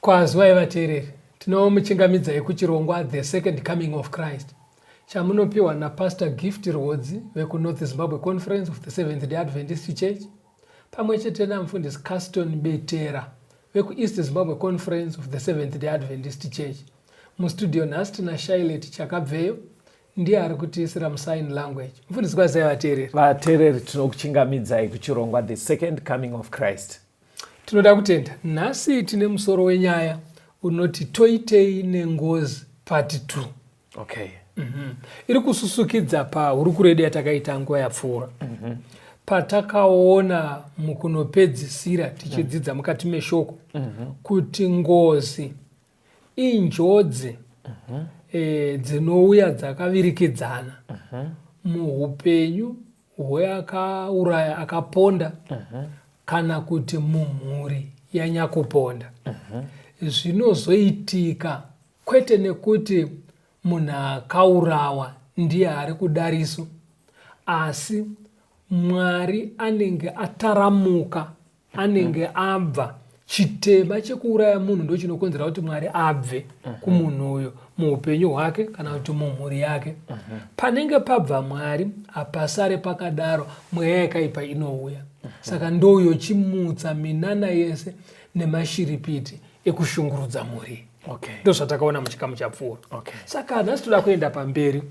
Kwazwai vateereri, tinomuchingamidzai kuchirongwa The Second Coming of Christ chamunopiwa naPastor Gift Rwodzi vekuNorth Zimbabwe Conference of the Seventh Day Adventist Church pamwe chete namufundisi Caston Betera vekuEast Zimbabwe Conference of the Seventh Day Adventist Church. Mustudio nhasi tina Shailet Chakabveyo ndiye ari kutiisira musign language mfundisi kwazai vateereri vateereri tinokuchingamidzai kuchirongwa the second coming of christ Tinoda kutenda. Nhasi tine musoro wenyaya unoti toitei nengozi part 2. Okay. Mm -hmm. Iri kususukidza pahurukuro yedu yatakaita nguva yapfuura. Mm -hmm. Patakaona mukunopedzisira tichidzidza mm -hmm. mukati meshoko mm -hmm. kuti ngozi injodzi uh mhm. -huh. e, dzinouya dzakavirikidzana uh mhm. -huh. muupenyu hweakauraya akaponda uh mhm. -huh. kana kuti mumhuri yanyakuponda uh -huh. zvinozoitika kwete nekuti munhu akaurawa ndiye ari kudariso asi mwari anenge ataramuka anenge abva chitema chekuuraya munhu ndo chinokonzera kuti mwari abve mhm. kumunhu uyo muupenyu hwake kana kuti mumhuri yake mhm. panenge pabva mwari hapasare pakadaro mweya yakaipa inouya mhm. saka ndouyo chimutsa minana yese nemashiripiti ekushungurudza mhuri ndozvatakaona muchikamu chapfuura saka nhasi toda kuenda pamberi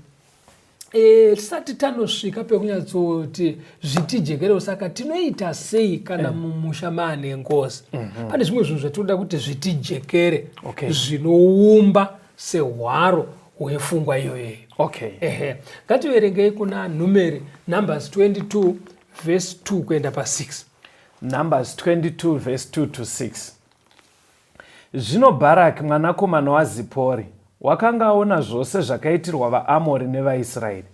Eh, tisati tanosvika pekunyatsoti zvitijekerewo saka tinoita sei kana eh. mumusha maane ngozi mhm. pane zvimwe zvinhu zvatinoda kuti zvitijekere zvinoumba sehwaro hwefungwa iyoyeyo okay. ehe ngativerengei kuna numeri numbers 22 vhesi 2 kuenda pa6 numbers 22 vhesi 2 to 6 Zvino Bharaki mwanakomana waZipori wakanga aona zvose zvakaitirwa vaAmori nevaIsraeri.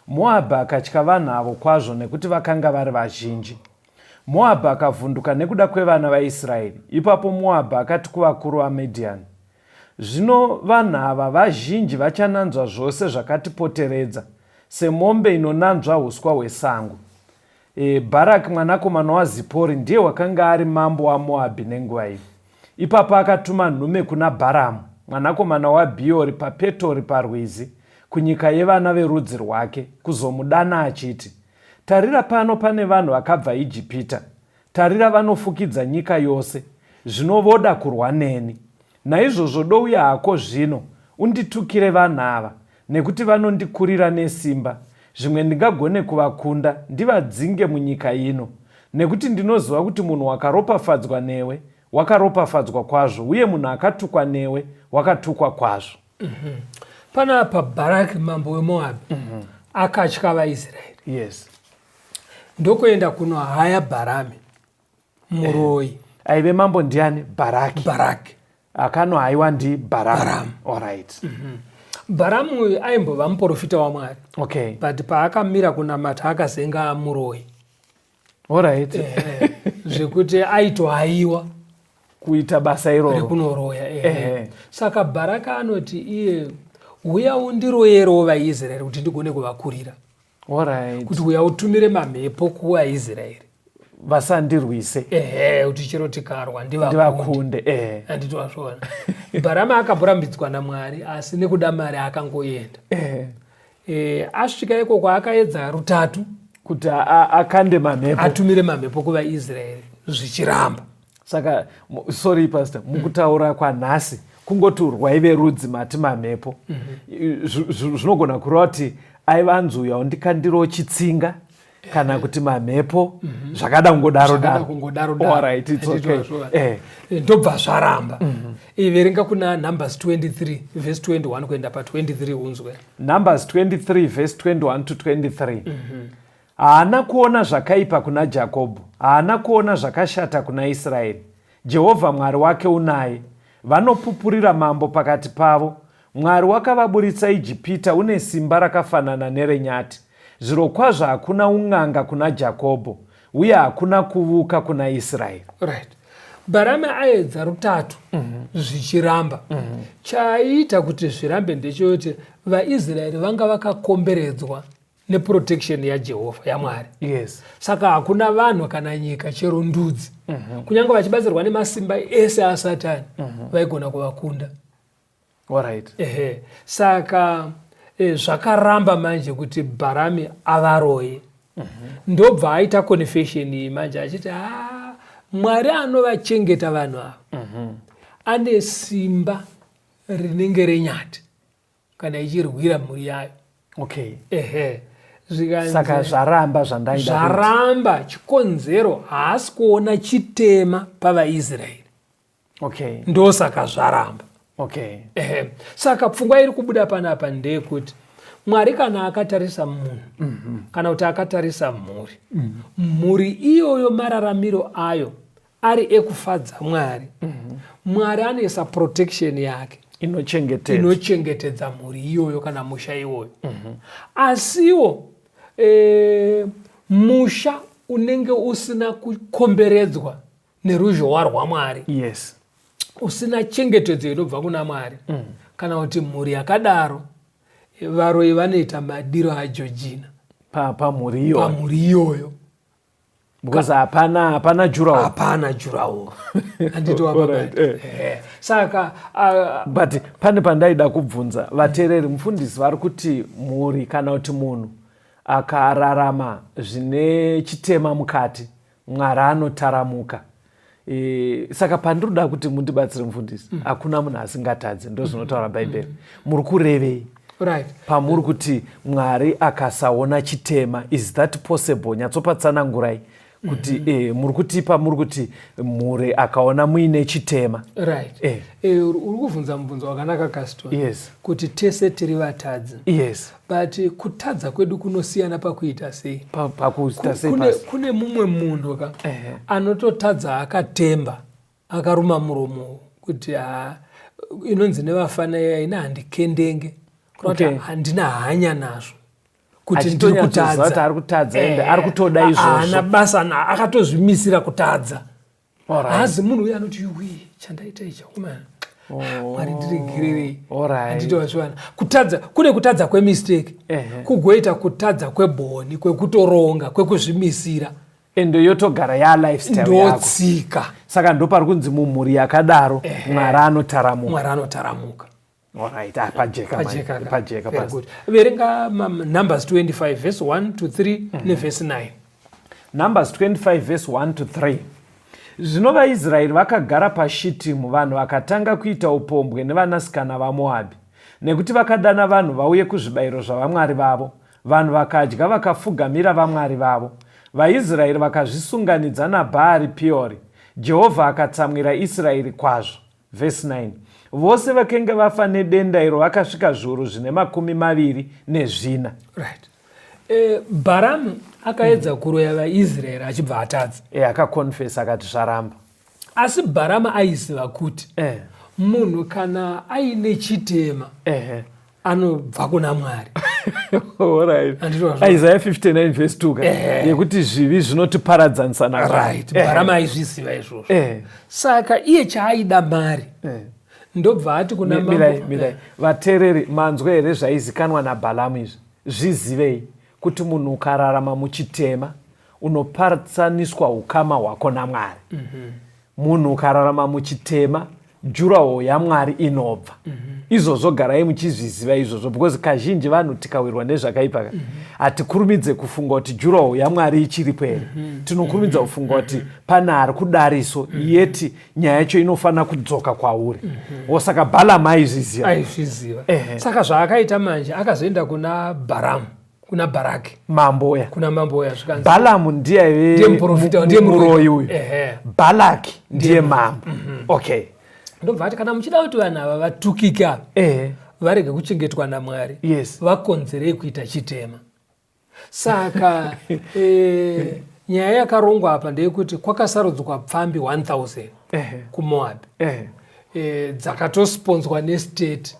Moabhi akatya vanhu avo kwazvo nekuti vakanga vari vazhinji. Moabhi akavhunduka nekuda kwevana vaIsraeri. Ipapo Moabhi akati kuvakuru vaMidhiani, Zvino vanhu ava vazhinji vachananzva zvose zvakatipoteredza, semombe inonanzva uswa hwesango. E, Bharaki mwanakomana waZipori ndiye wakanga ari mambo waMoabhi nenguva iyi. Ipapa akatuma nhume kuna Bharamu mwanakomana waBhiori paPetori parwizi kunyika yevana verudzi rwake kuzomudana achiti, Tarira pano pane vanhu vakabva Ijipita. Tarira vanofukidza nyika yose. Zvino voda kurwa neni. Naizvozvo douya hako zvino unditukire vanhu ava. Nekuti vanondikurira nesimba, zvimwe ndingagone kuvakunda, ndivadzinge munyika ino. Nekuti ndinoziva kuti munhu wakaropafadzwa newe wakaropafadzwa kwazvo, uye munhu akatukwa newe wakatukwa kwazvo. Mm -hmm. Panapa Bharaki mambo weMoabhi mm -hmm. akatya vaIsraeri. Yes. Ndokuenda kunohaya Bharami. muroyi aive mambo ndiani baraki baraki akano haiwa ndi baramu orit mhm. baramu uyu aimbova muprofita wamwari okay but paakamira kunamata akazenga muroyi orit eh, eh, zvekuti aitohaiwa kuita basa iroro rekunoroya eh. saka baraka anoti iye huya undiroyerewo vaisraeri kuti ndigone kuvakurira Alright. kuti uya utumire mamhepo kuvaisraeri vasandirwise ehe kuti chero tikarwa ndivakunde ndivakunde eh. handiti wazviona bharama akamborambidzwa namwari asi nekuda mari akangoenda Eh. Eh, asvika ikoko akaedza rutatu kuti a- a- akande mamhepo atumire mamhepo kuvaisraeri zvichiramba saka sorry pastor mukutaura kwanhasi kungoti urwai verudzi mati mamhepo mhm. zvinogona kureva kuti aiva anzi uya undikandiro chitsinga kana kuti mamhepo mhm. zvakada kungodaro eh. ndobva zvaramba mhm. eh, verenga kuna numbers 23 vhesi 21 kuenda pa 23 unzwe numbers 23 vhesi 21 to 23 Haana kuona zvakaipa kuna Jakobho, haana kuona zvakashata kuna Israeri. Jehovha Mwari wake unaye. Vanopupurira mambo pakati pavo. Mwari wakavaburitsa Ijipita une simba rakafanana nerenyati. Zvirokwazvo hakuna un'anga kuna Jakobho, uye hakuna kuvuka kuna Israeri. Right. Bharame aedza rutatu mm -hmm. zvichiramba mm -hmm. chaiita kuti zvirambe ndechekuti vaisraeri vanga vakakomberedzwa neprotection yajehovha yamwari yes. saka hakuna vanhu kana nyika chero ndudzi mm -hmm. kunyange vachibatsirwa nemasimba ese asatani mm -hmm. vaigona kuvakunda right. ehe saka e, zvakaramba manje kuti bharami avaroye mm -hmm. ndobva aita confession iyi manje achiti ha mwari anovachengeta vanhu ava mm -hmm. ane simba rinenge renyati kana ichirwira mhuri yayo okay ehe saka zvaramba zvandaida zvaramba chikonzero haasi kuona chitema pavaisraeri okay ndosaka zvaramba okay ehe saka pfungwa iri kubuda panapa ndeyekuti mwari kana akatarisa munhu mm -hmm. kana kuti akatarisa mhuri mm -hmm. mhuri iyoyo mararamiro ayo ari ekufadza mwari mm -hmm. mwari anoisa protection yake inochengetedza inochengetedza mhuri iyoyo kana musha iwoyo mm -hmm. asiwo e, musha unenge usina kukomberedzwa neruzhowa rwamwari yes usina chengetedzo inobva kuna mwari mm. kana kuti mhuri yakadaro varoyi vanoita madiro ajojina pamhuri iyoyo because hapana hapana jurawo hapana jurawo anditoaait eh. eh. saka uh, but pane pandaida kubvunza vateereri mufundisi vari kuti mhuri kana kuti munhu akararama zvine chitema mukati mwari anotaramuka E, saka pandiri kuda kuti mundibatsire mufundisi mm. hakuna munhu asingatadze ndozvinotaura mm. bhaibheri mm. muri kurevei right. pamuri kuti mwari akasaona chitema is that possible nyatsopatsanangurai kuti mm -hmm. eh, muri kuti pamuri kuti mhuri akaona muine chitema right. eh. eh, uri kuvhunza mubvunzo wakanaka kaston yes. kuti tese tiri vatadzi yes. but kutadza kwedu kunosiyana pakuita sei pakuita sei kune, kune mumwe munhu ka uh -huh. anototadza akatemba akaruma muromo kuti ha inonzi nevafana iya ina handikendenge kuti okay. handina hanya nazvo kuti ndiri kutadza ari kutadza ende eh, ari kutoda izvozvo haana basa na akatozvimisira kutadza haazi munhu uye anoti yuwi chandaita ichi akomana oh. mwari ndiregererei anditowazvivana kutadza kune kutadza kwemistake kugoita kutadza kwebhoni kwekutoronga kwekuzvimisira ende yotogara yalifestylendotsika saka ndopari kunzi mumhuri yakadaro mwari anotaramuka Alright, ah, pajeka pajeka man. pajeka Very good. Verenga um, Numbers 25 verse 1 to 3 mm -hmm. neverse 9. Numbers 25 verse 1 to 3. Zvino vaIsraeri vakagara paShitimu, vanhu vakatanga kuita upombwe nevanasikana vaMoabhi, nekuti vakadana vanhu vauye kuzvibayiro zvavamwari vavo. Vanhu vakadya vakafugamira vamwari vavo. VaIsraeri vakazvisunganidza naBhaari Piori. Jehovha akatsamwira Israeri kwazvo. Vhesi 9 Vose vakenge vafa nedenda iro vakasvika zviuru zvine makumi maviri nezvina. Right. E, Bharamu akaedza mm -hmm. kuroya vaIsraeri achibva atadza. E, akakonfesa akati zvaramba. Asi Bharamu aiziva kuti eh. munhu kana aine chitema eh. anobva kuna mwari isaya 59 vhesi 2 eh. yekuti zvivi zvinotiparadzanisa narit eh. bara maizviziva izvozvo eh. saka iye chaaida mari ndobva ati kuna mirai vatereri manzwa here zvaizikanwa nabhalamu izvi zvizivei kuti munhu ukararama muchitema unoparatsaniswa ukama hwako namwari mhm. munhu ukararama muchitema jurawo yamwari inobva mm -hmm. izvozvo garai muchizviziva izvozvo because kazhinji vanhu tikawirwa nezvakaipa ka mm -hmm. hatikurumidze kufunga kuti jurawo yamwari ichiripo here mm -hmm. tinokurumidza mhm. kufunga kuti mm -hmm. pane ari kudariso mm -hmm. yeti nyaya yacho inofanira kudzoka kwauri mm -hmm. osaka balamu aizviziva aizviziva saka zvaakaita manje akazoenda kuna baramu kuna baraki mambo uya kuna mambo uya zvikanzi balamu ndiye aive Ndiye muprofita, mu- ndiye mu- muroyi muroyi. uyu Ehe. balaki ndiye mambo okay ndobva ati kana muchida kuti vanhu ava vatukika eh varege kuchengetwa namwari Yes. vakonzerei kuita chitema saka eh, nyaya yakarongwa apa ndeyekuti kwakasarudzwa pfambi 1000 Ehe. kumoabi eh eh, dzakatosponzwa nestate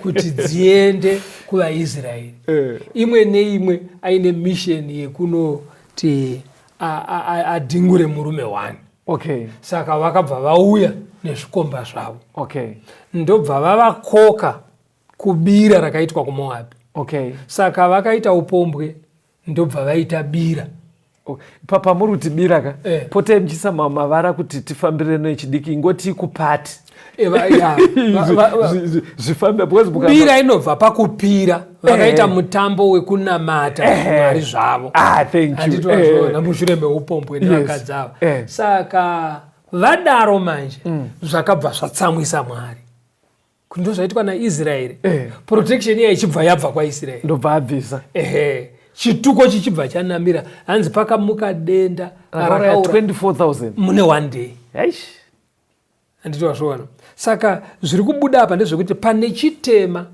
kuti dziende kuvaisraeri eh. imwe neimwe aine misheni yekunoti adhingure murume wani okay. saka vakabva vauya nezvikomba zvavo okay. ndobva vavakoka kubira rakaitwa kumoabhi okay. saka vakaita upombwe ndobva vaita bira oh, pamuri kuti bira ka eh. potai muchiisa mavara kuti tifambire nechidiki ingoti kupati eh, zvifambe bira inobva pakupira vakaita eh. mutambo wekunamata eh. mwari zvavo ah, anditozvona mushure meupombwe nevakadzi avo saka vadaro manje mm. zvakabva zvatsamwisa mwari ndozvaitwa naisraeri eh. protection iya ichibva yabva kwaisraeri ndobva abvisa ehe chituko chichibva chanamira hanzi pakamuka denda rakaura 24000 mune one day eish handiti wazviona saka zviri kubuda apa ndezvekuti pane chitema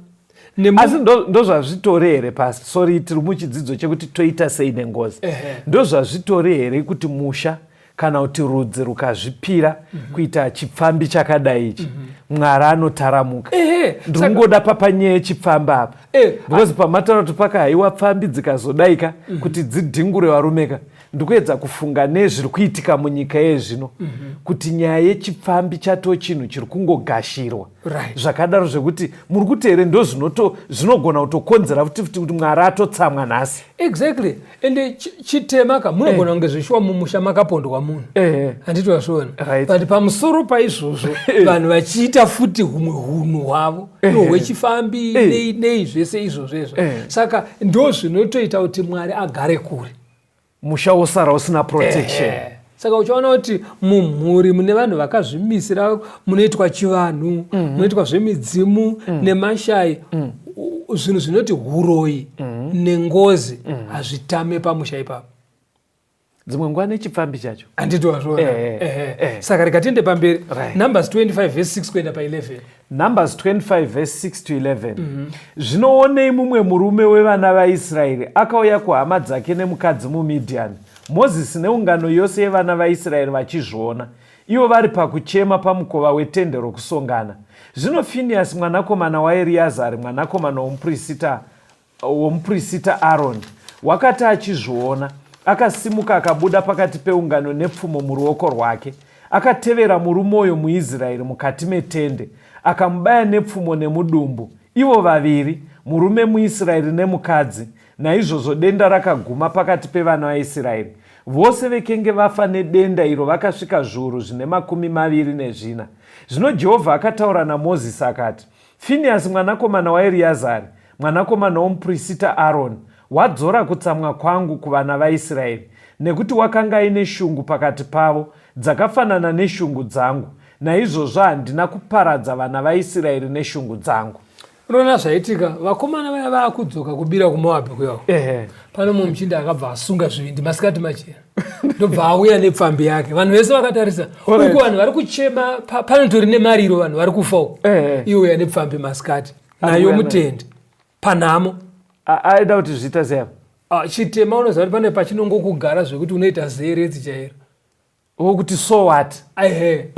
asi ndozvazvitori here pasi sori tiri muchidzidzo chekuti toita sei nengozi ndozvazvitori here kuti musha kana kuti rudzi rukazvipira mm -hmm. kuita chipfambi chakadai ichi mm -hmm. mwari anotaramuka ndikungoda papanyeye chipfamba apa eh, because pamataura kuti paka haiwa pfambi dzikazodaika mm -hmm. kuti dzidhingure varumeka ndikuedza kufunga nezviri kuitika munyika yezvino mm -hmm. kuti nyaya yechipfambi chatoo chinhu chiri kungogashirwa right. zvakadaro zvekuti muri kuti here ndo zvinogona kutokonzera futi futi kuti mwari atotsamwa nhasi exactly ende chitema ka munogona eh. kunge zvishuwa mumusha makapondwa munhu eh. handiti vasviona but pamusoro paizvozvo eh. vanhu vachiita futi humwe hunhu hwavo no hwechifambi nei nei zvese izvozvo izvo saka ndo zvinotoita kuti mwari agare kure musha wosara usina protection eh, eh. saka uchaona kuti mumhuri mune vanhu vakazvimisira munoitwa chivanhu mm -hmm. munoitwa zvemidzimu mm -hmm. nemashai mm -hmm zvinhu zvinoti huroyi mm. nengozi mm. hazvitame mm. pamusha ipapo dzimwe nguva nechipfambi chacho handiti wazviona eh, eh, eh, eh. saka rikatiende pamberi right. numbers 25 vese 6 kuenda pa 11 Numbers 25 verse 6 to 11 mhm. zvinoonei mumwe murume wevana vaisraeri akauya kuhama dzake nemukadzi mumidiani mozisi neungano yose yevana vaisraeri vachizviona ivo vari pakuchema pamukova wetende rokusongana zvino finiyasi mwanakomana waeriyazari mwanakomana womuprista womuprista Aroni wakati achizviona, akasimuka akabuda pakati peungano nepfumo muruoko rwake. Akatevera murume uyo muIsraeri mukati metende, akamubaya nepfumo nemudumbu, ivo vaviri, murume muIsraeri nemukadzi. Naizvozvo denda rakaguma pakati pevana vaIsraeri. Vose vekenge vafa nedenda iro vakasvika zviuru zvine makumi maviri nezvina. Zvino Jehovha akataura naMozisi akati, Finiyasi mwanakomana waEriazari, mwanakomana womupirisita Aroni, wadzora kutsamwa kwangu kuvana vaIsiraeri, nekuti wakanga aine shungu pakati pavo dzakafanana neshungu dzangu, naizvozvo handina kuparadza vana vaIsiraeri neshungu dzangu. Unoona zvaitika, vakomana vaya vaakudzoka kubira kuMoabhi kuyawo. Ehe. Pane mumwe muchinda akabva asunga zvivindi masikati machena. ndobva auya nepfambi yake vanhu vese vakatarisa uku vanhu vari kuchema panotori nemariro vanhu vari kufawo eh, eh. iye uya nepfambi masikati nayo mutende panhamo aida kuti zviita zea ah, chitema unoziva kuti pane pachinongokugara zvekuti unoita zeeredzi chairo wokuti so what ehe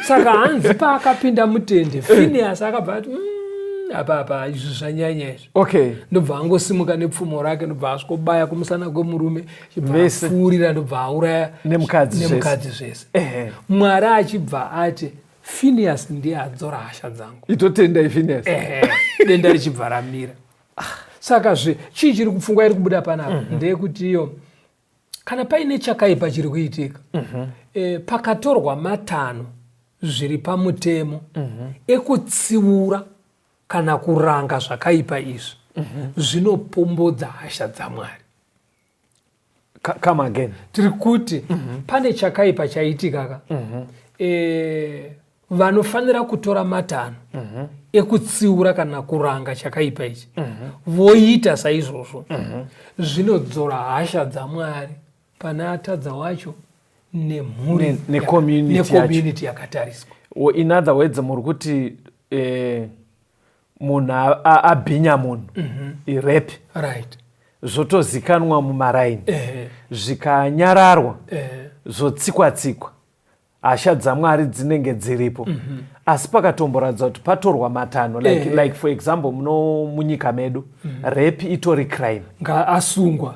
saka hanzi paakapinda mutende eh. finias akabva ati mm, apa apa izvi zvanyanya izvi okay ndobva angosimuka nepfumo rake ndobva asvikobaya kumusana kwemurume vsfurira ndobva auraya nemukadzi zvese mwari achibva ati finias ndiye adzora hasha dzangu itotenda ifinias denda richibva ramira saka zve chii chiri kupfungwa iri kubuda panapa mm -hmm. ndeyekuti iyo kana paine chakaipa chiri kuitika mm -hmm. e, pakatorwa matano zviri pamutemo mm -hmm. ekutsiura kana kuranga zvakaipa izvi mm -hmm. zvinopombodza hasha dzamwari come again tiri kuti mm -hmm. pane chakaipa chaitika ka mm -hmm. e, vanofanira kutora matanho mm -hmm. ekutsiura kana kuranga chakaipa ichi mm -hmm. voita saizvozvo mm -hmm. zvinodzora hasha dzamwari pane atadza wacho nemhuri necommunity ne, ne yakatariswa in other words muri kuti eh, munhu abhinya munhu mhm. irep right zvotozikanwa mumaraini eh. zvikanyararwa eh. zvotsikwa tsikwa hasha dzamwari dzinenge dziripo mm -hmm. asi pakatomboratidza kuti patorwa matanho like, eh. like for example muno munyika medu mm -hmm. rep itori crime ngaasungwa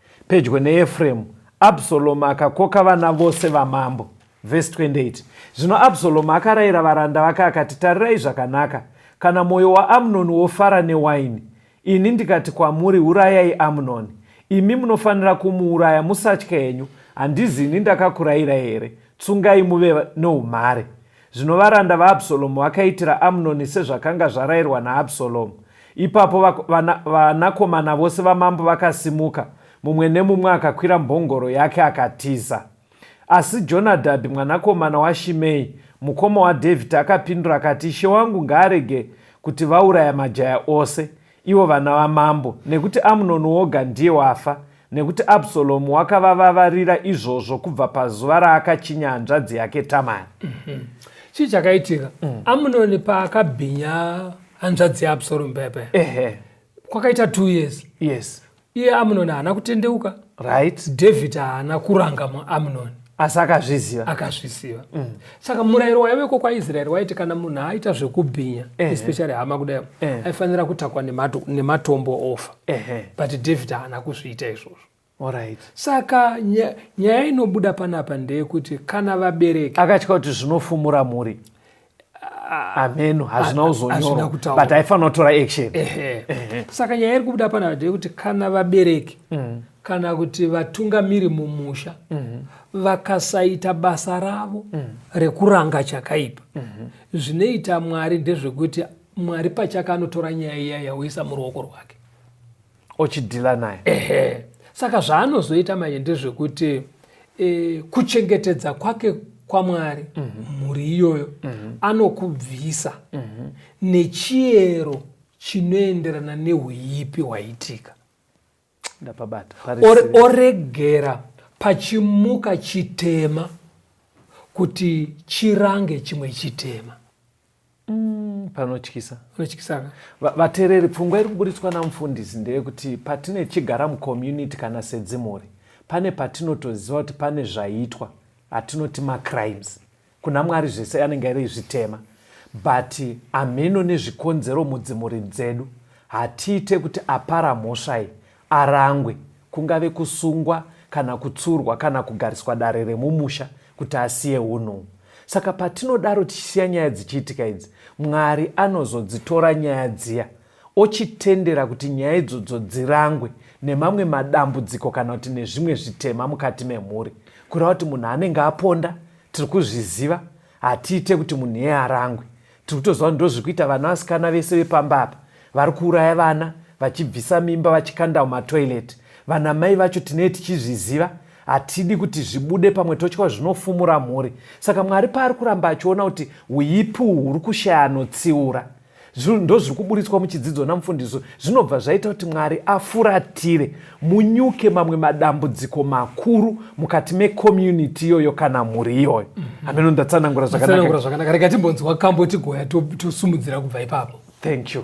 Pedyo neEfremu, Absalomu akakoka vana vose vamambo. Vhesi 28 Zvino Absalomu akarayira varanda vake akati, Tarirai zvakanaka, kana mwoyo waAmunoni wofara newaini, ini ndikati kwamuri, Urayai Amunoni, imi munofanira kumuuraya, musatya henyu, handizi ini ndakakurayirai here? Tsungai muve noumhare. Zvino varanda vaAbsalomu vakaitira Amnoni sezvakanga zvarayirwa naAbsalomu. Ipapo vanakomana vose vamambo vakasimuka, mumwe nemumwe akakwira mbongoro yake akatiza. Asi Jonadhabhi mwanakomana waShimei, mukoma waDhavhidhi, akapindura akati, Ishe wangu ngaarege kuti vauraya majaya ose. ivo vana vamambo, nekuti Amunoni woga ndiye wafa, nekuti Absalomu wakavavavarira izvozvo kubva pazuva raakachinya hanzvadzi yake Tamari. Mhm. Chii chakaitika? Mm. Amunoni paakabhinya hanzvadzi yaAbsalomu paya paya. Ehe. Kwakaita two years. Yes. iye amunoni haana kutendeuka right david haana kuranga muamunoni asi akazviziva akazviziva mm. saka murayiro waiveko kwaisraeri waiti kana munhu aita zvekubhinya eh, especially hama kudai eh. aifanira kutakwa nematombo ofa eh, but david haana kuzviita izvozvo Alright. saka nyaya inobuda panapa ndeyekuti kana vabereki akatya kuti zvinofumura mhuri hameno hazvina kuzonyora but aifanira kutora action saka nyaya iri kubuda pana ndeyekuti kana vabereki mm. kana kuti vatungamiri mumusha mm-hmm. vakasaita basa ravo mm. rekuranga chakaipa mm-hmm. zvinoita mwari ndezvekuti mwari pachake anotora nyaya iya yauisa muruoko rwake ochidhila naye ehe saka zvaanozoita manje ndezvekuti e, kuchengetedza kwake kwamwari mm -hmm. mhuri iyoyo mm -hmm. anokubvisa mm -hmm. nechiyero chinoenderana neuipi hwaitika ndapabata oregera pachimuka chitema kuti chirange chimwe chitema Mm, panotyisa panotyisa vatereri pfungwa iri kuburitswa namufundisi ndeyekuti patine chigara mucommunity kana sedzimhuri pane patinotoziva kuti pane zvaitwa atinoti macrimes kuna mwari zvese anenge ari zvitema but amheno nezvikonzero mudzimhuri dzedu hatiite kuti apara mhosva iyi arangwe, kungave kusungwa kana kutsurwa kana kugariswa dare remumusha kuti asiye unhu uhu. Saka patinodaro tichisiya nyaya dzichiitika idzi, Mwari anozodzitora nyaya dziya ochitendera kuti nyaya idzodzo dzirangwe nemamwe madambudziko kana kuti nezvimwe zvitema mukati memhuri. Kureva kuti munhu anenge aponda, tiri kuzviziva, Hatiite kuti munhu iyeye arangwe. Tiri kutoziva kuti ndozviri kuita vana vasikana vese vepamba apa. Vari kuuraya vana, vachibvisa mimba, vachikanda mumatoilet. Vanamai vacho tinee tichizviziva. Hatidi kuti zvibude pamwe totya kuti zvinofumura mhuri. Saka Mwari paari kuramba achiona kuti huipi uhu huri kushaya anotsiura. ndozviri kuburitswa muchidzidzo namufundisi zvinobva zvaita kuti mwari afuratire munyuke mamwe madambudziko makuru mukati mecommunity iyoyo kana mhuri iyoyo mhm. hameno ndatsanangura zvakanaka rega timbonzwa kambo tigoya tosumudzira kubva ipapo thank you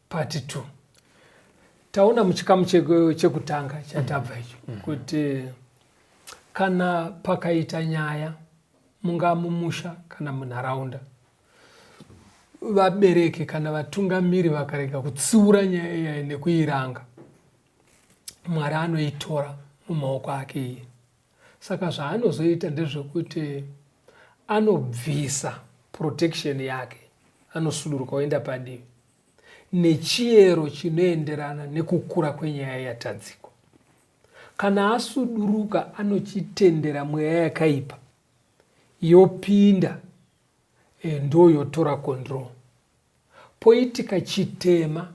Part 2 taona muchikamu chekutanga chatabva icho mm -hmm. kuti kana pakaita nyaya mungaa mumusha kana munharaunda vabereki kana vatungamiri vakarega kutsiura nyaya iyayi nekuiranga mwari anoitora mumaoko ake iye Saka zvaanozoita ndezvekuti anobvisa protection yake anosuduruka oenda padivi nechiyero chinoenderana nekukura kwenyaya yatadziko. Kana asuduruka anochitendera mweya yakaipa yopinda e, eh, ndoyotora control. Poitika chitema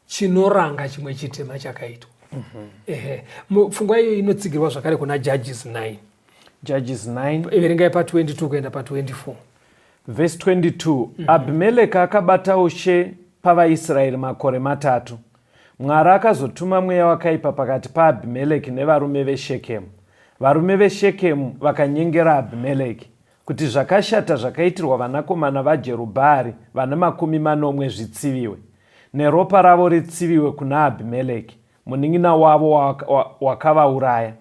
chinoranga chimwe chitema chakaitwa mm -hmm. ehe pfungwa iyo inotsigirwa zvakare kuna judges 9 judges 9 iverengai pa 22 kuenda pa 24 vhesi 22 mm -hmm. abhimeleki akabata ushe pavaisraeri makore matatu mwari akazotuma mweya wakaipa pakati paabhimeleki nevarume veshekemu varume veshekemu vakanyengera abhimeleki kuti zvakashata zvakaitirwa vanakomana vaJerubhaari vana makumi manomwe zvitsiviwe, neropa ravo ritsiviwe kuna Abhimeleki, munin'ina wavo wakavauraya,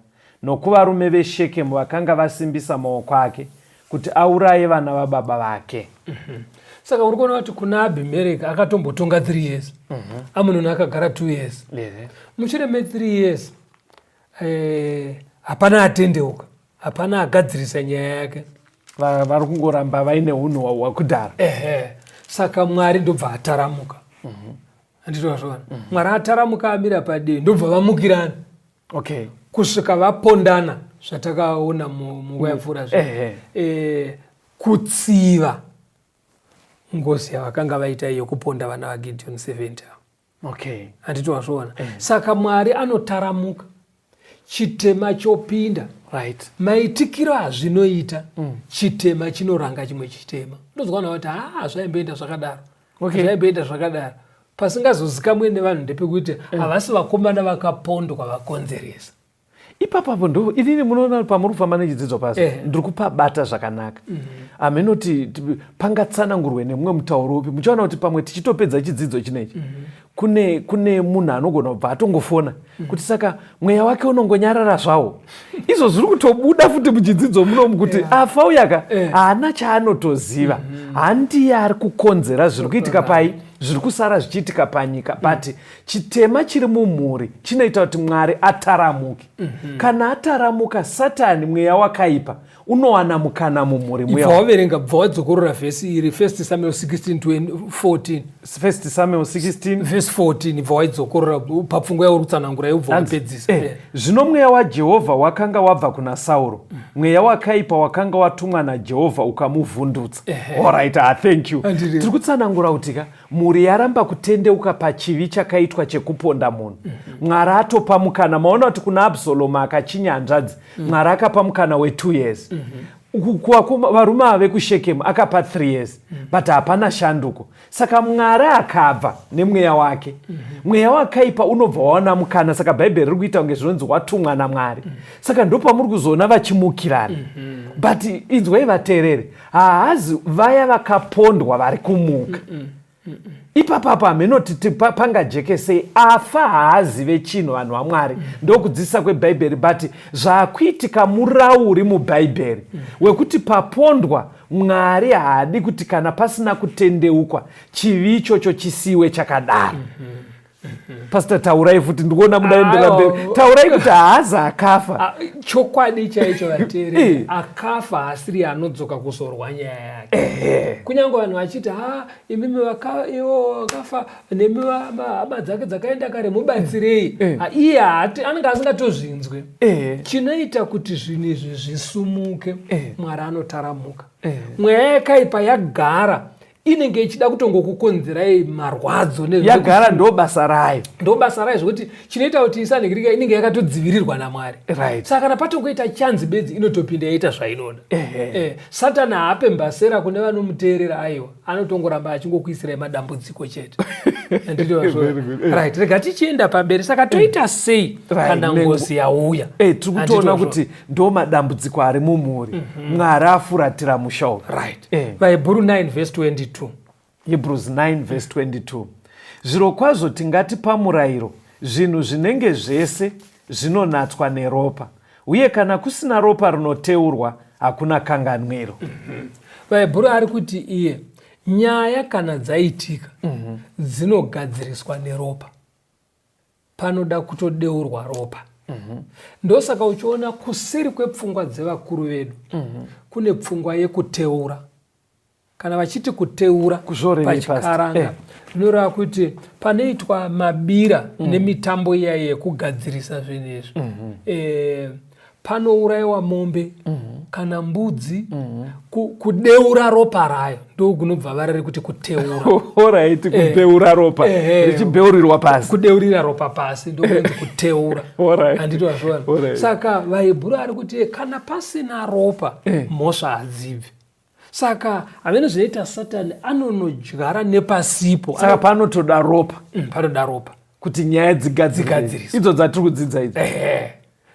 nokuvarume veShekemu vakanga vasimbisa maoko ake kuti auraye vana vababa vake. Mhm. Saka uri kuona kuti kuna Abhimeleki akatombotonga three years, mhm. Amunoni akagara two years, mushure me three years eh, hapana atendeuka hapana agadzirisa nyaya yake Va- vari kungoramba vaine hunhu hwa- hwakudhara ehe saka mwari ndobva ataramuka anditozvona mwari ataramuka amira padii ndobva vamukirana okay kusvika vapondana zvatakaona mu- munguva yapfuura zve ehe. Eh, kutsiva ngozi yavakanga vaita iyo kuponda vana vagideon 70 ava. okay handiti wazviona eh. saka mwari anotaramuka chitema chopinda right maitikiro azvinoita mm. chitema chinoranga chimwe chitema ndozwa na kuti haa zvaimboenda zvakadaro okay. zvaimboenda zvakadaro pasingazozikamwe nevanhu ndepekuti eh. havasi vakomana vakapondwa vakonzeresa ipapo apo ndo inini munoona pamuri kufamba nechidzidzo pasi eh. ndiri kupabata zvakanaka mhm. hameno mm -hmm. kuti pangatsanangurwe nemumwe mutauro upi muchaona kuti pamwe tichitopedza chidzidzo chinechi mm -hmm. kune kune munhu anogona kubva atongofona mm -hmm. kuti saka mweya wake unongonyarara zvawo izvo zviri kutobuda futi muchidzidzo munomu kuti yeah. afa uyaka eh. haana yeah. chaanotoziva mm -hmm. handiye ari kukonzera zviri kuitika pai zviri kusara zvichiitika panyika pati mm -hmm. chitema chiri mumhuri chinoita kuti mwari ataramuke mm -hmm. kana ataramuka satani mweya wakaipa unowana mukana mumhuri mwewaverenga bva wadzokorora vhesi iri first samuel 1614 first samuel 16 vhesi 14 bva waidzokorora papfungwa yauri kutsanangura yobva wapedzisa eh, zvino mweya wajehovha wakanga wabva kuna sauro mm. mweya wakaipa wakanga watumwa najehovha ukamuvhundutsa eh, eh. orit ah, thank you tiri kutsanangura kuti ka mhuri yaramba kutendeuka pachivi chakaitwa chekuponda munhu mwari atopa mukana maona kuti kuna absalomu akachinya hanzvadzi mwari akapa mukana wetwo years varume ava vekushekemu akapa th years but hapana shanduko saka mwari akabva nemweya wake mweya wakaipa unobva waona mukana saka bhaibheri riri kuita kunge zvinonzi watumwa namwari saka ndopamuri kuzoona vachimukirana but inzwai vateereri haazi vaya vakapondwa vari kumuka mm -mm. Mm -mm. ipapapo hameno titi pangajekesei afa haazive chinhu vanhu vamwari mm. ndokudzidzisa kwebhaibheri but zvakuitika murauri mubhaibheri mm. wekuti papondwa mwari haadi kuti kana pasina kutendeukwa chivi ichocho chisiwe chakadaro mm -hmm. pastor taurai futi ndikuona mudaendera mberi taurai kuti haazi akafa ah, chokwadi chaicho vateri eh. akafa haasiri anodzoka kuzorwa nyaya yake eh. kunyange vanhu vachiti ha imimi iwo akafa nemi hama dzake dzakaenda kare mubatsirei eh. ah, iye anenge asingatozvinzwe chinoita kuti zvinhu izvi zvisumuke mwari anotaramuka mweya yakaipa yagara inenge ichida kutongokukonzerai marwadzo yagara ndo basa rayo ndo basa rayo zvekuti chinoita kuti isanhikirika inenge yakatodzivirirwa namwari right. saka kana patongoita chanzi bedzi inotopinda yaita zvainoda eh, satani haape mbasera kune vanomuteerera aiwa anotongoramba achingokuisirai madambudziko chete right rega tichienda pamberi saka toita sei kana ngozi yauya eh, tiri kutoona kuti ndo madambudziko ari mumhuri mm -hmm. mwari afuratira musha uyu right. eh. vahebhuru 9 vhesi 22 hebrews 9 vhesi 22 zviro kwazvo tingati pamurayiro zvinhu zvinenge zvese zvinonatswa neropa uye kana kusina ropa rinoteurwa hakuna kanganwiro mm -hmm. vahebhuru ari kuti iye nyaya kana dzaitika mm -hmm. dzinogadziriswa neropa panoda kutodeurwa ropa mm -hmm. ndosaka uchiona kuseri kwepfungwa dzevakuru vedu mm -hmm. kune pfungwa yekuteura kana vachiti kuteura pachikaranga eh. zvinoreva eh. kuti panoitwa mabira mm -hmm. nemitambo iyayi yekugadzirisa zvinhu izvi mm -hmm. eh, panourayiwa mombe mhm. kana mbudzi mhm. kudeura ropa rayo ndokunobva vara rekuti kuteura orit eh. kudeura ropa eh, eh. richibeurirwa pasi kudeurira ropa pasi ndokunzi kuteura handiti wazvona saka vaibhuru ari kuti kana pasina ropa mhosva hadzibvi saka hamene zvinoita satani anonodyara nepasipo saka panotoda ropa mm, panoda ropa kuti nyaya dzigadzigadziriswe idzo dzatiri kudzidza idzo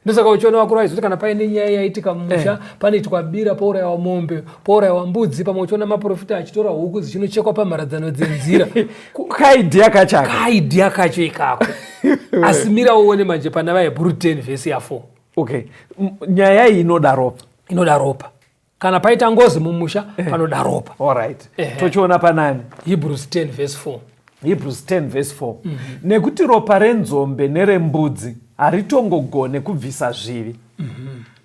ndosaka uchiona vakuru vaizoti kana paine nyaya yaitika mumusha eh. panoitwa bira pourayiwa mombe pourayiwa mbudzi pamwe uchiona maprofita achitora huku dzichinochekwa pamharadzano dzenzira kaidhiya kachako kaidhiya kacho ikako asi mira uone manje pana vahebhuru 10 vhesi ya 4 okay nyaya iyi inoda ropa inoda ropa kana paita ngozi mumusha eh. panoda ropa alright eh. tochiona panani hebrews 10 verse 4 hebrews 10 verse 4 mm -hmm. nekuti ropa renzombe nerembudzi haritongogone kubvisa zvivi mm -hmm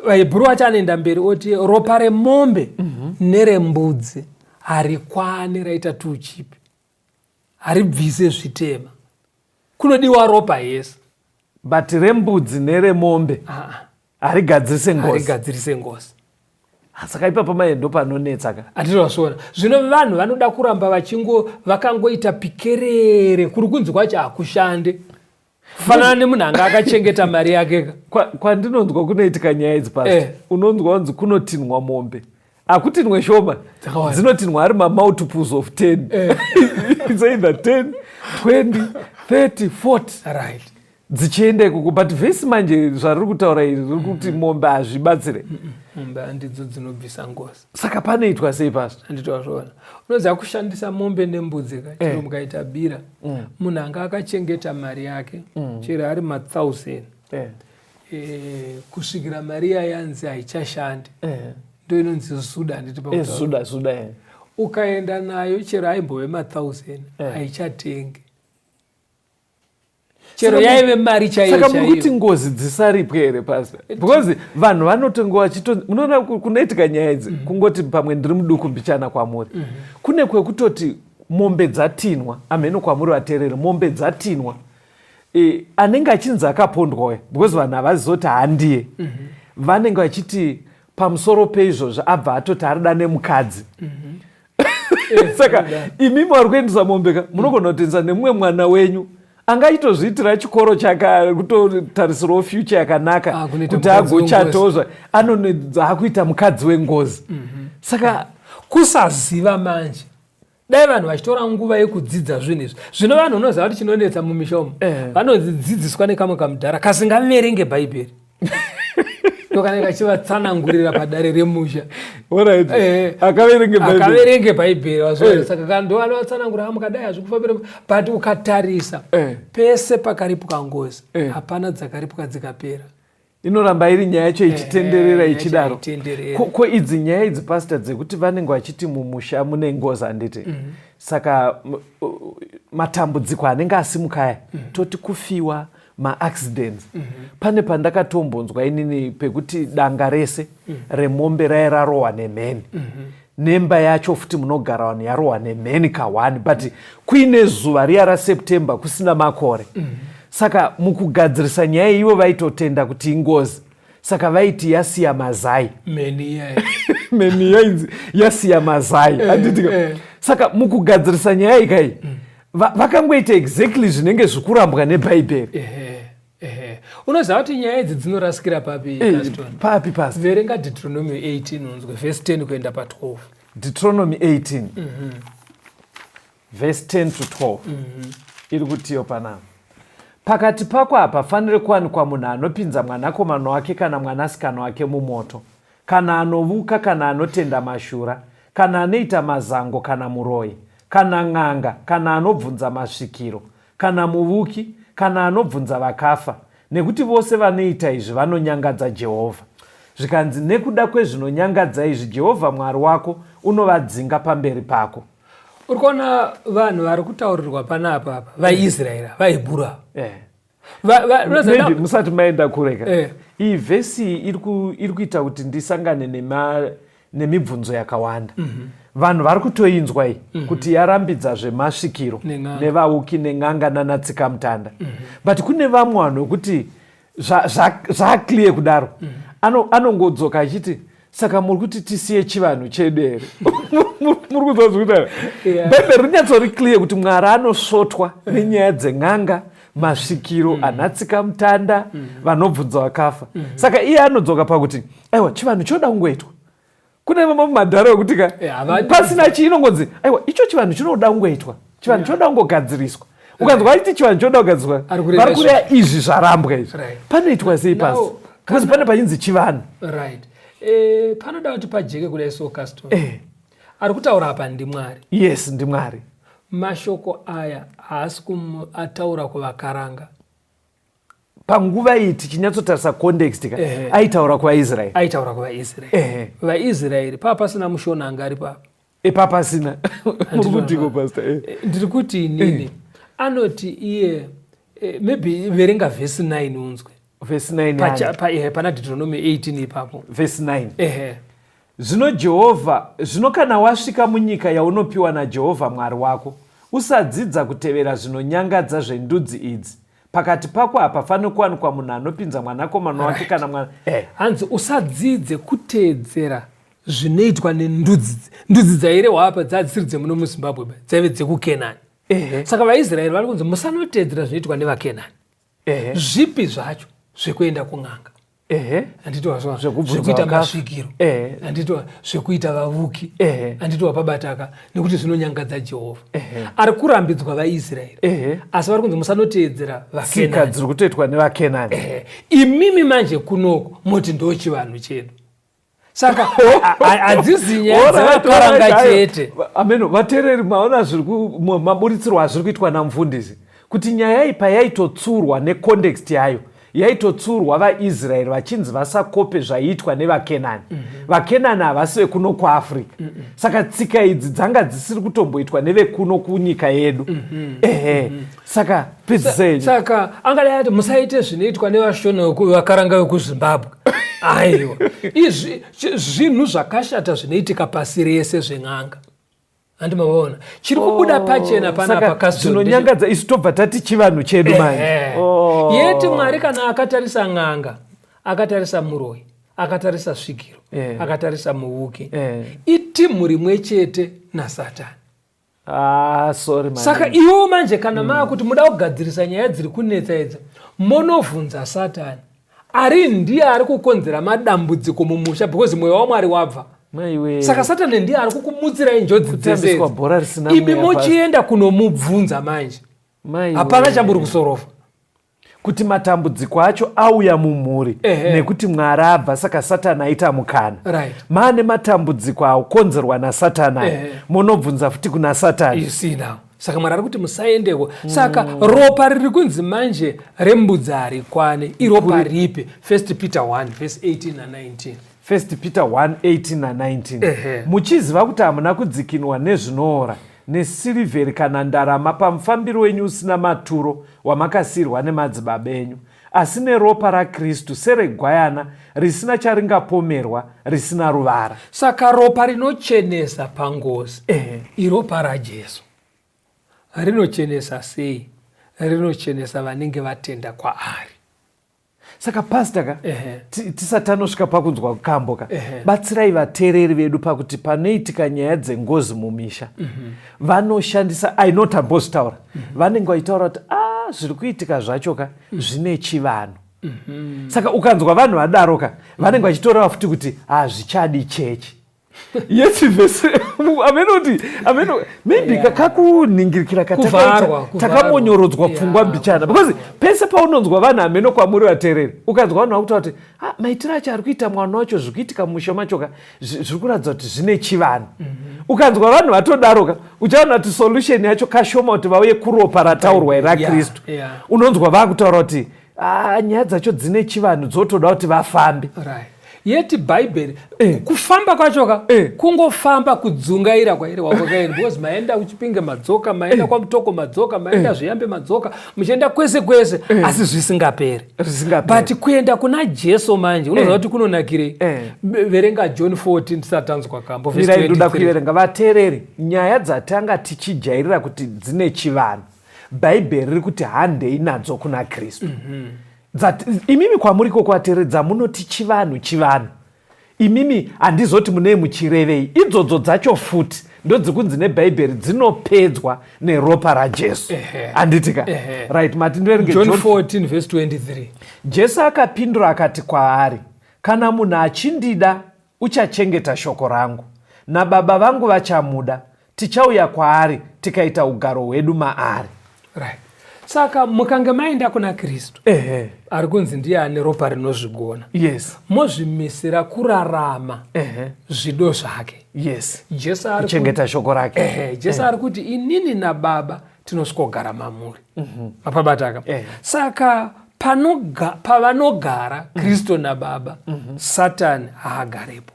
hebhuru acho anoenda mberi oti ropa remombe mm -hmm. nerembudzi harikwani raita tuchipi haribvise zvitema Kunodiwa ropa yes. But rembudzi neremombe ah, ah. harigadzirise ngozi. Harigadzirise ngozi. Ah, saka ipapo maye ndopanonetsa ka atinozviona zvino vanhu vanoda kuramba vachingo vakangoita pikerere kuri kunzi kwacho hakushande fanana nemunhu anga akachengeta mari yake ka kwandinonzwa kunoitika nyaya idzi pasi eh. unonzwa kunzi kunotinhwa mombe akutinwe shoma dzinotinwa ari mamultiples of 10 eh. its either 10 20 30 40 right dzichienda ikoko but vhesi manje zvariri kutaura iri riri kuti mm-hmm. mombe hazvibatsire mombe handidzo dzinobvisa ngozi saka panoitwa sei pasi handitoa zvoona unoziva kushandisa mombe nembudzi ka chero eh. mukaita bira mm. munhu anga akachengeta mari yake mm. chero ari mathousand eh. Eh, kusvikira mari iya yanzi haichashandi eh. ndo inonzi zuda handiti pazuda eh, zuda eh. ukaenda nayo chero aimbove mathousand eh. haichatengi chero yaive mari chaiyosaka muri kuti ngozi dzisaripwe here pasa because vanhu vanotongo vachito munoona kunoitika nyaya idzi mm -hmm. kungoti pamwe ndiri muduku mbichana kwamuri mm -hmm. kune kwekutoti mombe dzatinwa amheno kwamuri vatereri mombe dzatinwa e, anenge achinzi akapondwa uya because vanhu havazizoti handiye mm -hmm. vanenge vachiti pamusoro peizvozvo abva atoti arida nemukadzi mm -hmm. Eh, saka imi mwari kuendesa mombe ka munogona kutengesa nemumwe mwana wenyu anga achitozviitira chikoro chakakutotarisirawo future yakanaka ah, kuti agochatozva anoakuita mukadzi wengozi mhm. saka kusaziva manje dai vanhu vachitora nguva yekudzidza zvinhu izvi zvino vanhu unoziva kuti chinonetsa mumisha umu eh. vanodzidziswa nekamwe kamudhara kasingaverenge bhaibheri ndokana kachivatsanangurira padare remusha eh, akaverenge bhaibheri eh. saka kandovanovatsanangura ah, mukadai hazvikufambira but ukatarisa pese pakaripwa ngozi hapana dzakaripwa dzikapera inoramba iri nyaya yacho ichitenderera ichidaro ko idzi nyaya idzi pastor dzekuti vanenge vachiti mumusha mune ngozi handiti mm -hmm. saka matambudziko anenge asimuka aya mm -hmm. toti kufiwa maaccidents mm -hmm. pane pandakatombonzwa inini pekuti danga rese mm -hmm. remombe raye rarohwa nemheni mm -hmm. nemba yacho futi munogara vanhu yarohwa nemheni kahwani but kuine zuva riya raseptember kusina makore mm -hmm. saka mukugadzirisa nyaya ivo vaitotenda kuti ingozi saka vaiti yasiya mazai mheni yainzi yasiya mazai eh, anditika eh. saka mukugadzirisa nyaya ikai mm. vakangoita exactly zvinenge zvikurambwa nebhaibheri Ehe. Unoziva kuti nyaya idzi dzinorasikira papi Eh, Gaston? papi pasi Verenga Deuteronomy 18 unzwe verse 10 kuenda pa 12. deuteronomy 18 verse 10 to 12 iri kutiyo panapa pakati pako hapafanire kuwanikwa munhu anopinza mwanakomana wake kana mwanasikana wake mumoto kana anovuka kana anotenda mashura kana anoita mazango kana muroyi kana n'anga kana anobvunza masvikiro kana muvuki, kana anobvunza vakafa, nekuti vose vanoita izvi vanonyangadza Jehovha. Zvikanzi, Nekuda kwezvinonyangadza izvi, Jehovha Mwari wako unovadzinga pamberi pako. Uri kuona vanhu vari kutaurirwa panapa apa, vaIsraeri, eh. vaHebhuru ava. Eh. Maybe musati maenda kureka. Eh. Iyi vhesi iri kuita kuti ndisangane nema nemibvunzo yakawanda mm -hmm. vanhu vari kutoinzwa iyi mm -hmm. kuti yarambidza zvemasvikiro nevauki nen'anga nanatsikamutanda mm -hmm. but kune vamwe vanhu vekuti zvaakliye zva, kudaro mm -hmm. anongodzoka ano achiti saka muri kuti tisiye chivanhu chedu here muri kuziva zvikutaa bhaibheri rinyatsori clear kuti mwari anosvotwa nenyaya dzen'anga masvikiro mm. anatsika mutanda mm. vanobvunza vakafa mm. saka iye anodzoka pakuti aiwa chivanhu chinoda kungoitwa kune vamwe madhara vekuti ka eh, pasina chii inongonzi aiwa icho chivanhu chinoda kungoitwa chivanhu chinoda kungogadziriswa ukanzwa aiti chivanhu chinoda kugadziriswa vari kureya izvi zvarambwa izvi panoitwa sei pasi because pane pachinzi chivanhu right eh, panoda kuti pajeke kudai so custom eh. ari kutaura apa ndimwari yes ndimwari mashoko aya haasi ataura kuvakaranga panguva iyi tichinyatsotarisa context ka aitaura kuvaisraeri aitaura kuvaisraeri vaisraeri paa pasina mushona anga ari papa ipapa eh, pasina murikutiko pasta eh. eh, ndiri kuti inini anoti iye maybe verenga vhesi 9 unzwe vhesi 9 pana deuteronomy 18 ipapo vhesi 9 ehe Zvino Jehovha, zvino kana wasvika munyika yaunopiwa naJehovha Mwari wako, usadzidza kutevera zvinonyangadza zvendudzi idzi, pakati pako hapafaniri kuwanikwa munhu anopinza mwanakomana wake right. kana mwana eh. hanzi usadzidze kuteedzera zvinoitwa nendudzi ndudzi dzairehwa apa dzadzisiri dzemuno muzimbabwe dzaive dzekukenani eh. saka vaisraeri vari kunzi musanoteedzera zvinoitwa nevakenani ehe, zvipi zvacho zvekuenda kun'anga ehe, anditiwa zva- Zvekubvunza zvekuita vakafa. masvikiro Ehe. anditiwa zvekuita vavuki Ehe. anditiwa pabataka nekuti zvinonyangadza jehovha Ehe. ari kurambidzwa vaisraeri Ehe. asi vari kunzi musanoteedzera tsika vakenani dziri kutoitwa nevakenani Ehe. imimi manje kunoko moti ndochivanhu chedu saka hadzisi nyaya dzavakaranga chete ameno vatereri maona zviri maburitsirwo azviri kuitwa namfundisi kuti nyaya iyi payaitotsurwa necondext yayo yaitotsurwa vaisraeri vachinzi vasakope zvaiitwa nevakenani mhm. vakenani havasi vekuno kuafrica mhm. saka tsika idzi dzanga dzisiri kutomboitwa nevekuno kunyika yedu mhm. ehe saka pedzisei saka angadai ati musaite zvinoitwa nevashona vakaranga vekuzimbabwe aiwa izvi zvinhu zvakashata zvinoitika pasi rese zven'anga handi mavaona chiri kubuda oh, pachena panapakazvinonyangadza isu tobva tati chivanhu chedu manje oh. yeti mwari kana akatarisa n'anga akatarisa muroyi akatarisa svikiro eh. akatarisa muvuki eh. itimhu rimwe chete nasatani Ah, sorry man. Saka iwo manje kana mm. maa kuti muda kugadzirisa nyaya dziri kunetsa idzo monovhunza satani ari ndiye ari kukonzera madambudziko mumusha because mweya wamwari wabva Maiwe. saka satani ndiye ari kukumutsirai njodzi dzeseibi mochienda kunomubvunza manje hapana chamuri kusorofa kuti matambudziko acho auya mumhuri nekuti mwari abva saka satani aita mukana right. maane matambudziko aukonzerwa nasatani aya munobvunza futi kuna satani saka mwari ari kuti musaendeko saka mm. ropa riri kunzi manje rembudzi harikwane iropa ripi 1 peter 1 vese 18 na 19 First Peter 1:18 na 19 Ehe. muchiziva kuti hamuna kudzikinwa nezvinoora nesilivheri kana ndarama pamufambiro wenyu usina maturo wamakasiirwa nemadzibaba enyu asi neropa rakristu seregwayana risina charingapomerwa risina ruvara saka ropa rinochenesa pangozi Ehe. iropa rajesu rinochenesa sei rinochenesa vanenge vatenda kwaari saka pasta ka tisati anosvika pakunzwa kambo ka batsirai vateereri vedu pakuti panoitika nyaya dzengozi mumisha mhm. vanoshandisa ainot ambozotaura mhm. vanenge vachitaura kuti a ah, zviri kuitika zvacho ka mhm. zvine chivanhu saka ukanzwa vanhu vadaro ka vanenge vachitoreva futi kuti hazvichadi ah, chechi yes vese amene kuti amene maybe yeah. kakuningirikira katakambonyorodzwa yeah. pfungwa mbichana because pese paunonzwa vanhu ameno kwamuri vatereri ukanzwa vanhu vakutaura kuti ah, maitiro acho ari kuita mwana wacho zviri kuitika mumusha machoka zviri kuratidza kuti zvine chivanhu mm -hmm. ukanzwa vanhu vatodaroka uchaona kuti solution yacho kashoma kuti vauye kuropa rataurwa ira kristu yeah. yeah. unonzwa vakutaura kuti Ah, nyaya dzacho dzine chivanhu dzotoda kuti vafambe right yeti bhaibheri eh. kufamba kwachoka eh. kungofamba kudzungaira kwairi wakwakairi because maenda kuchipinge madzoka maenda eh. kwamutoko madzoka maenda eh. zviyambe madzoka muchienda kwese kwese eh. asi zvisingaperi but kuenda kuna jesu manje unoziva eh. kuti kunonakirei eh. verenga john 14 tisatanzwa kambo ndoda kuverenga vateereri nyaya dzatanga tichijairira kuti dzine chivanhu bhaibheri riri kuti handei nadzo kuna kristu mm -hmm. imimi kwamuri kokuateredza munoti chivanhu chivanhu imimi handizoti munei muchirevei idzodzo dzacho futi ndodzikunzi nebhaibheri dzinopedzwa neropa rajesu handiti ka right mati ndoerengejesu akapindura akati kwaari kana munhu achindida Uchachengeta shoko rangu, nababa vangu vachamuda, tichauya kwaari tikaita ugaro hwedu maari. Right. Saka mukange maenda kuna Kristu ehe, ari kunzi ndiye ane ropa rinozvigona yes, mozvimisira kurarama ehe, zvido zvake. yes, Jesu ari kuti- kuchengeta shoko rake. ehe, Jesu ari kuti inini nababa tinosvikogara mamuri mhm. mapabataka eh. saka pavanogara mhm. kristu nababa mhm. satani haagarepo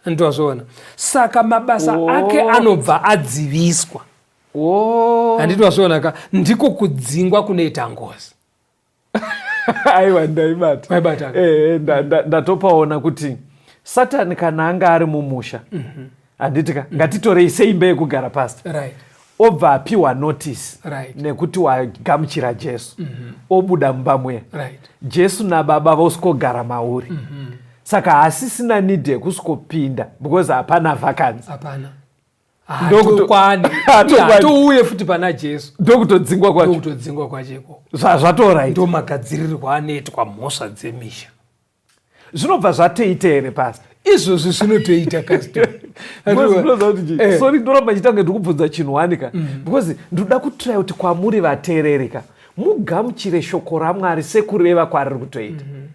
nditwazviona saka mabasa oh. ake anobva adziviswa oh. handitwazviona ka ndiko kudzingwa kunoita ngozi aiwa ndaibata waibata eh, ndatopaona kuti satani kana anga ari mumusha mhm. handiti ka mhm. ngatitorei seimba yekugara pasi obva apiwa notice nekuti wagamuchira jesu mhm. obuda mumba muya jesu nababa vosikogara mauri saka hasisina nidi yekusikopinda because hapana vakanzi ndokutokwaniatouye futi pana jesu ndokutodzingwa kwachokutodzingwa kwacho ikoko zvazvatora ndo magadzirirwa anoitwa mhosva dzemisha zvinobva zvatoita here pasi izvozvi zvinotoita kasosori eh. ndoramba chitange ndikubvunza chinhu wani ka mm. because ndoda kutira kuti kwamuri vateereri ka mugamuchire shoko ramwari sekureva kwariri kutoita mm-hmm.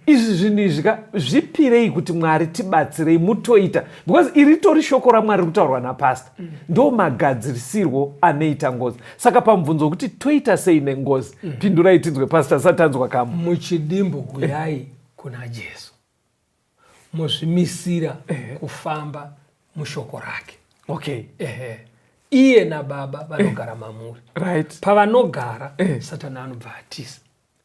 izvi zvinhu izvi ka zvipirei kuti mwari tibatsirei mutoita because iri tori shoko ramwari ri kutaurwa napasta mm. ndo magadzirisirwo anoita ngozi saka pamubvunzo wekuti toita sei nengozi mm. pindurai tinzwe pasta sati anzwa kamo muchidimbu huyai kuna jesu muzvimisira eh. kufamba mushoko rake okay ehe iye nababa vanogara eh. mamuri right pavanogara eh. satani anobva atisa